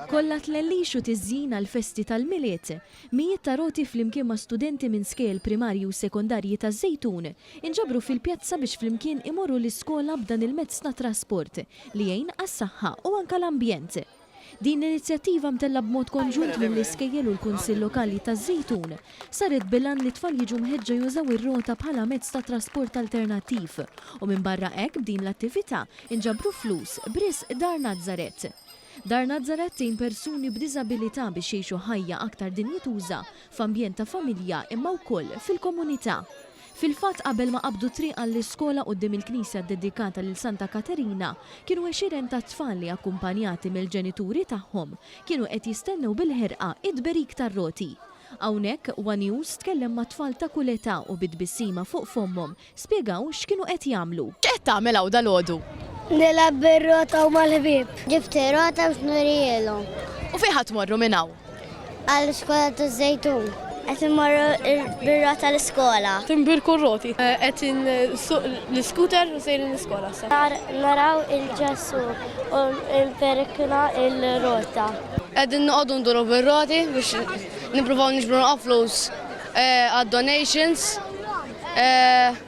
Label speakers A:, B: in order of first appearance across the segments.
A: Kollha tlellix u tiżjin għall-festi tal-Milied. Mijiet ta' roti flimkien ma' studenti minn skejjel primarji u sekondarji taż-Żejtun inġabru fil-pjazza biex flimkien imorru l-iskola b'dan il-mezz ta' trasport li jgħin għas-saħħa u anke l-ambjent. Din l-inizjattiva mtellgħa b'mod konġunt mill-iskejjel u l-Kunsill Lokali taż-Żejtun saret bil-għan li t-tfal jiġu mħeġġa jużaw ir-rota bħala mezz ta' trasport alternattiv u minbarra hekk b'din l-attività inġabru flus b'risq Dar Nazaret. Dar Nazaret tgħin persuni b'diżabilità biex jgħixu ħajja aktar dinjituża f'ambjent ta' familja imma wkoll fil-komunità. Fil-fatt qabel ma qabdu t-triq għall-iskola quddiem il-knisja ddedikata lil Santa Katerina kienu għexieren ta' tfal li akkumpanjati mill-ġenituri tagħhom kienu qed jistennew bil-ħerqa t-tberik tar-roti. Hawnhekk, one News tkellem ma' tfal ta' kull età u bi tbissima fuq fommhom Spjegaw x'kienu qed jagħmlu. X'qed tagħmel hawn
B: dalgħodu? Nilgħab
C: bir-rota u mal-ħbieb. Ġibt ir-rota biex nurihielhom. U fejn ħa tmorru
B: minn hawn? Għall-iskola
C: taż-Żejtun. Qed immorru bir-rota l-iskola. Tinbirku r-roti.
D: Qed insuq l-iskuter u sejrin l-iskola issa. Sar naraw
C: il-Ġesù u nperikna r-rota. Qegħdin noqogħdu
E: nduru bir-roti biex nippruvaw niġbru naqra flus għad-donations. Eh,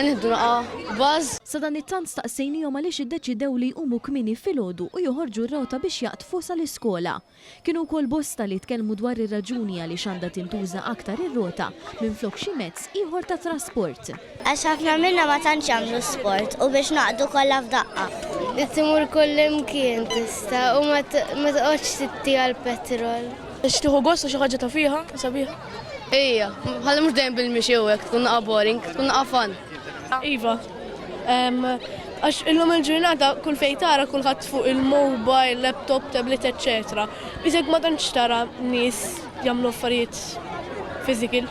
A: nieħdu naqa' baż. Sadanittant staqsejniehom għaliex iddeċidew li jqumu kmieni filgħodu u joħorġu r-rota biex jaqdfu sal-iskola. Kienu wkoll bosta li tkellmu dwar ir-raġuni għaliex għandha tintuża aktar ir-rota minflok xi mezz ieħor ta' trasport. Għax ħafna minna
C: ma tantx jagħmlu sport u biex naqdu kollha f'daqqa. Li timur kullimkien tista' u ma toqgħodx titti għall-petrol. Biex tieħu gost
D: u xi ħaġa ta' fiha, sabiħa. Ejja,
E: ħalli mhux dejjem bil-mixi u hekk tkun naqa' boring, tkun naqa' fun. Iva,
D: Għax illum il-ġurnata kull fejn tara kulħadd fuq il-mobile, laptop, tablet, etc. Iżek ma tantx tara nies jagħmlu affarijiet physical.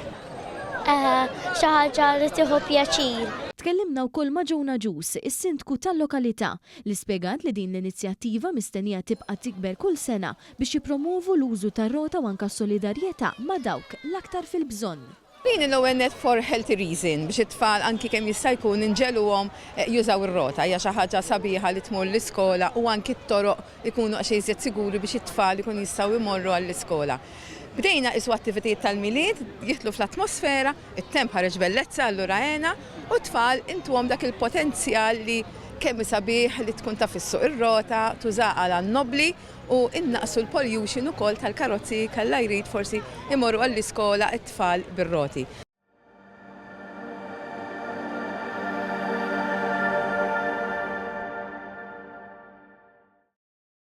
D: Eħe,
C: xi ħaġa li tieħu pjaċir. Tkellimna wkoll
A: ma' Joan Agius, is-Sindku tal-lokalità, li spjegat li din l-inizjattiva mistennija tibqa' tikber kull sena biex jippromwovu l-użu tar-rota u anke solidarjetà ma' dawk l-aktar fil-bżonn. Din hi l-ewwel nett
F: for healthy reason, biex it-tfal anki kemm jista' jkun inġegħluhom jużaw ir-rota. Hija xi ħaġa sabiħa li tmur l-iskola u anki t-toroq ikunu daqsxejn iżjed siguri biex it-tfal ikun jistgħu jmorru għall-iskola. Bdejna qisu attivitajiet tal-Milied jidħlu fl-atmosfera, it-temp ħareġ bellezza allura għena u t-tfal intuhom dak il-potenzjal li kemm hi sabiħ li tkun taf issuq ir-rota, tużaha għan-nobbli. u nnaqqsu l-pollution ukoll tal-karozzi kalla jrid forsi imorru għall-iskola t-tfal bir-roti.